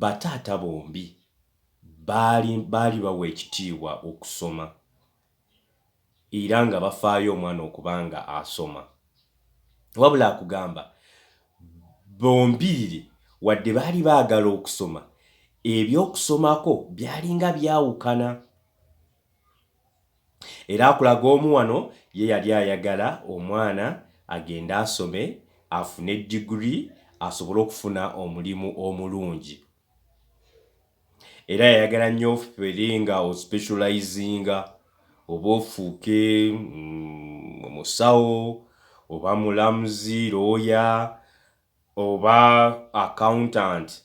bataata bombi baali baali bawa ekitiibwa okusoma era nga bafaayo omwana okuba nga asoma wabula akugamba bombiriri wadde baali baagala okusoma eby'okusomako byalinga byawukana. Era akulaga omu wano ye yali ayagala omwana agende asome afune degree asobole okufuna omulimu omulungi. Era yayagala nnyo ofere nga o specializinga oba ofuuke omusawo oba mulamuzi, looya oba accountant.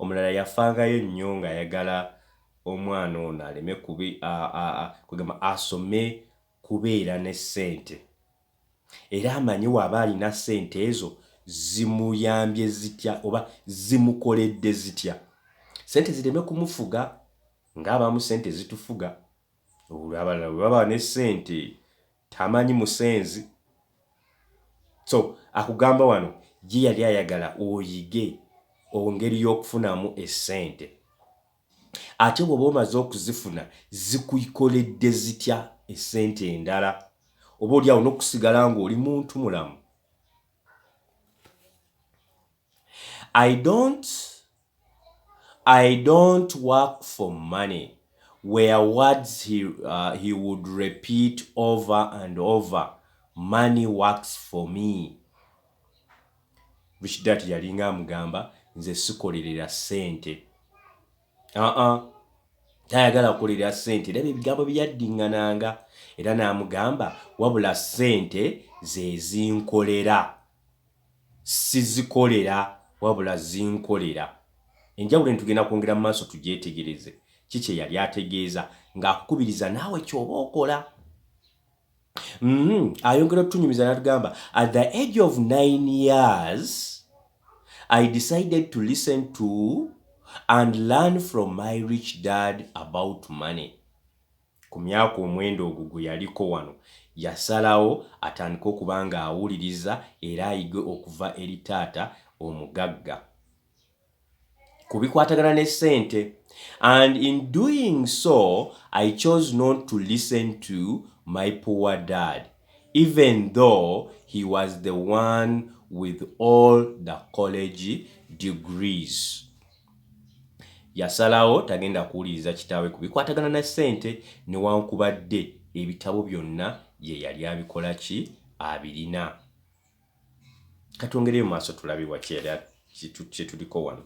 Omulala yafangayo nnyo ng'ayagala omwana ono aleme kubi, a, a, a, kwegamba asome kubeera ne ssente era amanye w'aba alina ssente ezo zimuyambye zitya oba zimukoledde zitya. Ssente zireme kumufuga ng'abamu ssente zitufuga. Olwo abalala bwe baba ne ssente Tamanyi musenzi so akugamba wano ye yali ayagala oyige ongeri yokufunamu esente ate bwoba omaze okuzifuna zikuikoledde zitya esente endala oba oli awo nokusigala nga oli muntu mulamu I don't I don't work for money were words he, uh, he would repeat over and over money works for me which that yalinga amugamba nze sikolerera sente aa uh -uh. tayagala kukolera sente era byebigambo byeyaddiŋŋananga era n'amugamba wabula sente zezinkolera Sizikolera wabula zinkolera. Enjawulo eno tugenda kwongera mu maaso tugyetegereze ki kye yali ategeeza ng'akukubiriza naawe ky'oba okola. Uhmm ayongera otunyumiza n'atugamba, At the age of nine years, I decided to listen to and learn from my rich dad about money. Ku myaka omwenda ogwo gwe yaliko wano, yasalawo atandike okuba ng'awuliriza era ayige okuva eri taata omugagga ku bikwatagana ne ssente. And in doing so, I chose not to listen to my poor dad even though he was the one with all the college degrees. Yasalawo tagenda kuwuliriza kitaawe ku bikwatagana na ssente newankubadde ebitabo byonna ye yali abikola ki? Abirina. Ka twongereyo mu maaso tulabe wa kye yali kye tuliko wano.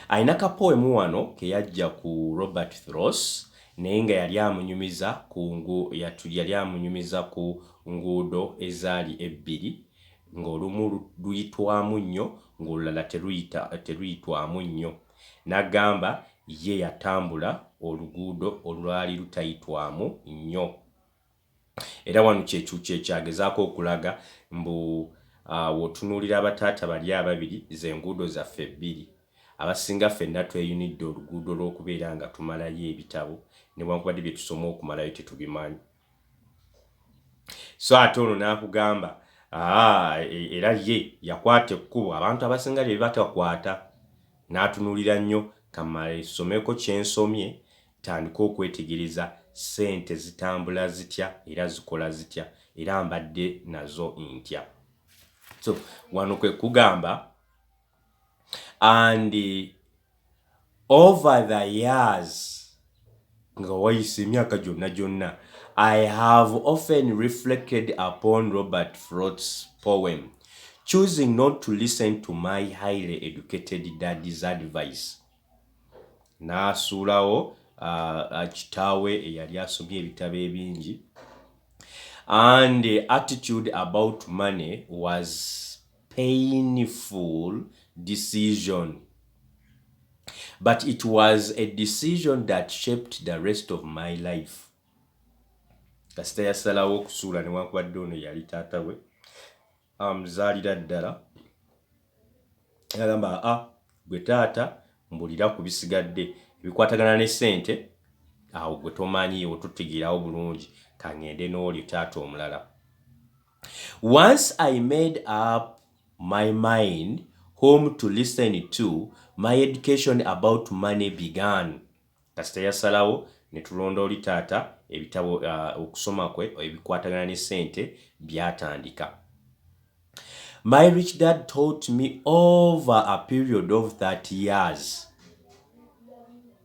Alina kapoemu wano ke yaggya ku Robert Thross naye nga yali amunyumiza ku yali amunyumiza ku nguudo ezaali ebbiri ng'olumu luyitwamu nnyo ng'olulala teruyita, teruyitwamu nnyo. N'agamba, Ye yatambula oluguudo olwali lutayitwamu nnyo. Era wano kye, kye kyagezaako okulaga, mbu, uh, w'otunuulira abataata bali ababiri, ze nguudo zaffe bbiri. Abasinga ffenna tweyunidde oluguudo lw'okubeera nga tumalayo ebitabo, newankubadde bye tusoma okumalayo tetubimanyi. so ate ono n'akugamba ah, e, era ye yakwata ekkubo abantu abasinga lye batakwata n'atunuulira nnyo kamale someko kyensomye tandika okwetegereza ssente zitambula zitya era zikola zitya era mbadde nazo ntya so wano kwe kugamba and over the years nga wayise emyaka gyonna gyonna i have often reflected upon robert frot's poem choosing not to listen to my highly educated daddy's advice n'asuulawo uh, kitaawe eyali asomye ebitabo ebingi and attitude about money was painful decision but it was a decision that shaped the rest of my life kasita yasalawo okusuula newankubadde ono yali taata we amuzaalira ddala agamba a ah, gwe taata mbulira ku bisigadde ebikwatagana ne sente awo gwe tomanyi otutegeerawo bulungi kangende n'oli taata omulala Once I made up my mind whom to listen to, my education about money began. Kasita yasalawo ne tulonda oli taata, ebitabo, okusoma kwe ebikwatagana ne ssente byatandika. My rich dad taught me over a period of 30 years.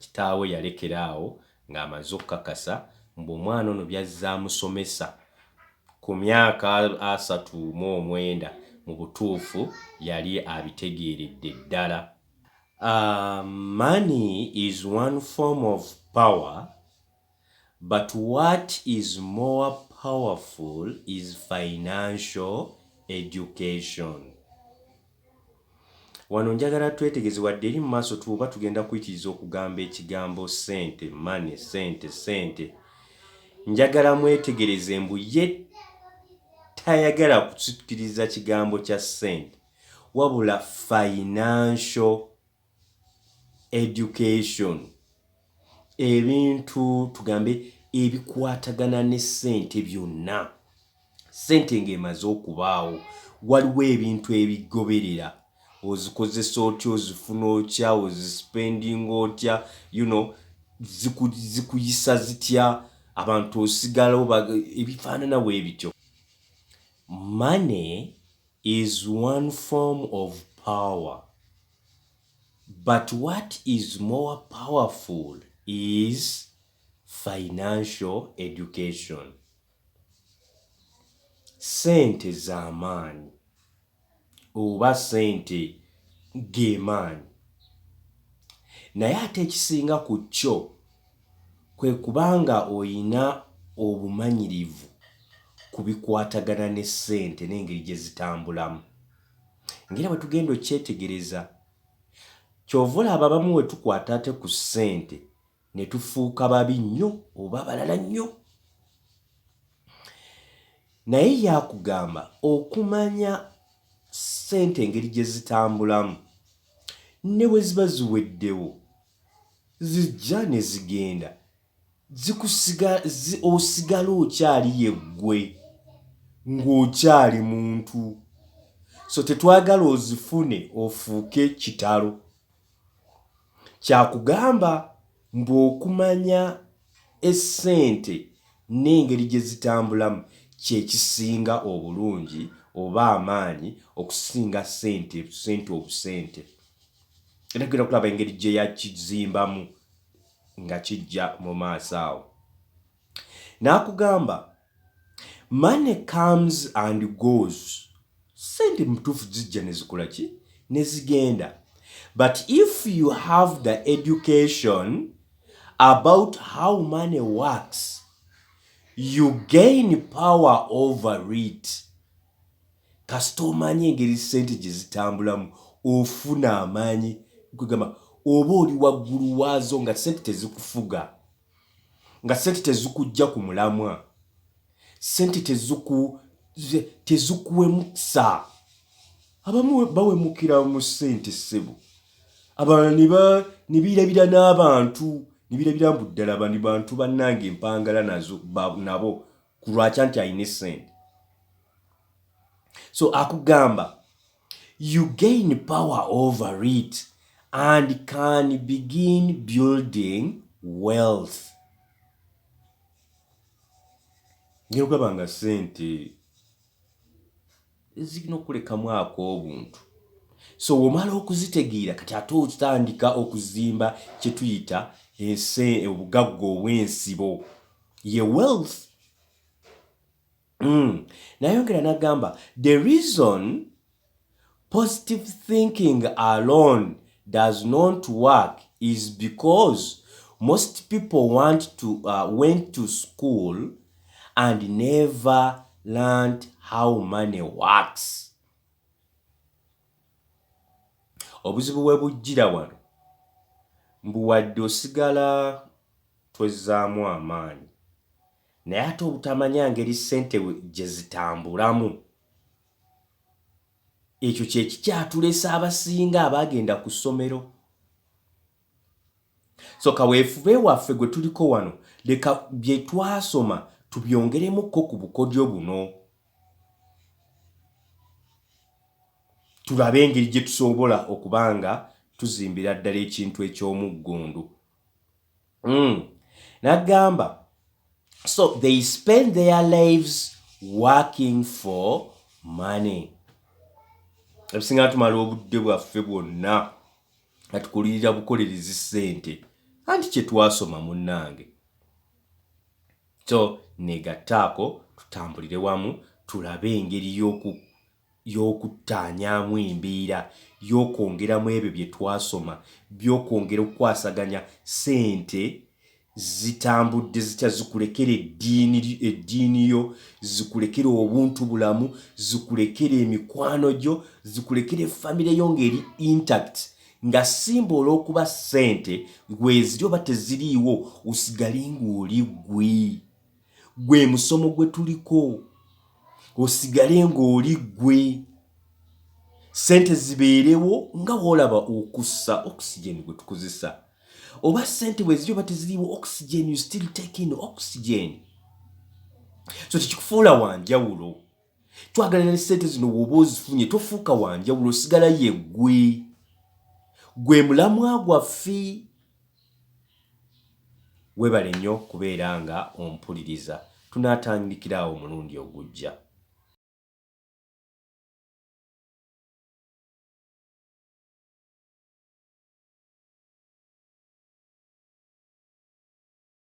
kitaawe yalekera awo ng'amaze okukakasa mbu omwana ono by'azze amusomesa ku myaka asatu mu omwenda mu butuufu yali abitegeeredde ddala. Uh, money is one form of power but what is more powerful is financial education. Wano njagala twetegeze wadde eri mu maaso tuba tugenda kuyitiriza okugamba ekigambo sente mane sente sente njagala mwetegereze mbu ye tayagala kusikiriza kigambo kya sente wabula financial education ebintu tugambe ebikwatagana ne ssente byonna ssente ng'emaze okubaawo waliwo ebintu ebigoberera ozikozesa otya ozifuna otya ozisipendinga otya you know zikuyisa zitya abantu osigala ebifaanana we bityo mane is one form of power but what is more powerful is financial education sente zamaanyi oba sente gemaanyi naye ate ekisinga ku kyo kwe kuba nga olina obumanyirivu ku bikwatagana ne ssente n'engeri gye zitambulamu. Ng'era bwe tugenda okyetegereza, ky'ova olaba abamu we tukwata ate ku ssente ne tufuuka babi nnyo oba abalala nnyo. Naye yakugamba okumanya ssente engeri gye zitambulamu ne bwe ziba ziweddewo. zijja ne zigenda osigala okyali yeggwe ng'okyali muntu so tetwagala ozifune ofuuke kitalo kyakugamba mbu okumanya essente n'engeri gye zitambulamu kyekisinga obulungi oba amaanyi okusinga sente sente obusente. era tugenda kulaba engeri gye yakizimbamu nga kijja mu maaso awo n'akugamba money comes and goes sente mutuufu zijja ne zikola ki ne zigenda but if you have the education about how money works you gain power over it kasita omanyi engeri sente gyezitambulamu ofuna amanyi kwegamba oba oli waggulu waazo nga sente tezikufuga nga sente tezikujja ku mulamwa sente teziku tezikuwemukisa abamu bawemukira mu sente ssebo abalala nebirabira n'abantu nebirabira mbu ddala bani bantu bannange empangala nazo nabo kulwakya nti alina esente so akugamba you gain power over it and can begin building wealth ngyokugaba nga sente zirina okulekamu ak'obuntu so womala okuzitegeera kati ate otandika okuzimba kyetuyita ensi obugagga obw'ensibo ye wealth mm. nayongera nagamba the reason positive thinking alone does not work is because most people want to uh, went to school and never learned how money works obuzibu bwe bujjira wano mbu wadde osigala twezzaamu amaanyi naye ate obutamanya ngeri ssente gye zitambulamu Ekyo kye kikyatulesa abasinga abaagenda ku ssomero. So kaweefube waffe gwe tuliko wano, leka bye twasoma tubyongeremukko ku bukodyo buno, tulabe engeri gye tusoobola okuba nga tuzimbira ddala ekintu eky'omuggundu. mm. nagamba so they spend their lives working for money ebisinga tumala obudde bwaffe bwonna nga tukulirira bukolerezi ssente anti kye twasoma munnange so negattaako tutambulire wamu tulabe engeri y'oku y'okuttaanyaamu embeera y'okwongera mu ebyo bye twasoma by'okwongera okukwasaganya ssente zitambudde zitya zikulekere eddiini eddiini yo zikulekere obuntu bulamu zikulekere emikwano gyo zikulekere famire yo ng'eri intact nga simba olw'okuba ssente gweziri oba teziriiwo osigale ng'oli gwe gwe musomo gwe tuliko osigale ng'oli gwe sente zibeerewo nga wolaba okussa oxygen gwe tukozesa oba sente bwe ziri oba teziriwo oxygen you still taking oxygen so tekikufuula wanjawulo twagala ne sente zino woba ozifunye tofuuka wanjawulo osigala yeggwe gwe mulamwa gwaffe webale nnyo kubeera nga ompuliriza tunaatandikira awo omulundi ogujja